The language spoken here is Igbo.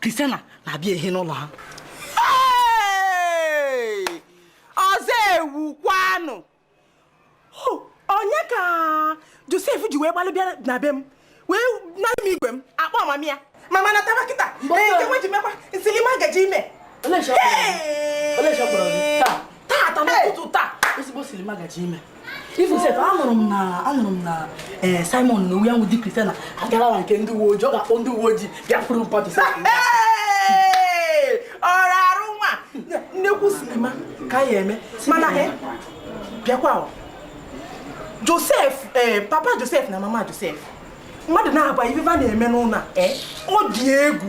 Christiana na-abịa ehi n'ụlọ ha ọzọ ewu kwanụ onye ka Josef ji wee gbalị bịa na be m wee nara m igwe m akpọ mama ya mama nataba kịta ka e wee ji mekwa na silima gaji ime tata n'ụtụtụ taa ezigbo silima gaji ime ifu sef anụrụ m na anụrụ m na eh, simon n'onwe ya with Christiana agarawa nke ndị uwe ojii ọ ga-akpọ ndị uwe ojii bịa pụrụ mpọtụ ọrụ arụ nwa nnekwu silima ka a ya-eme mana eh, bịakwa josef eh, papa josef na mama josef mmadụ naabọ a ife va na-eme n'ụnọ ọ dị egwu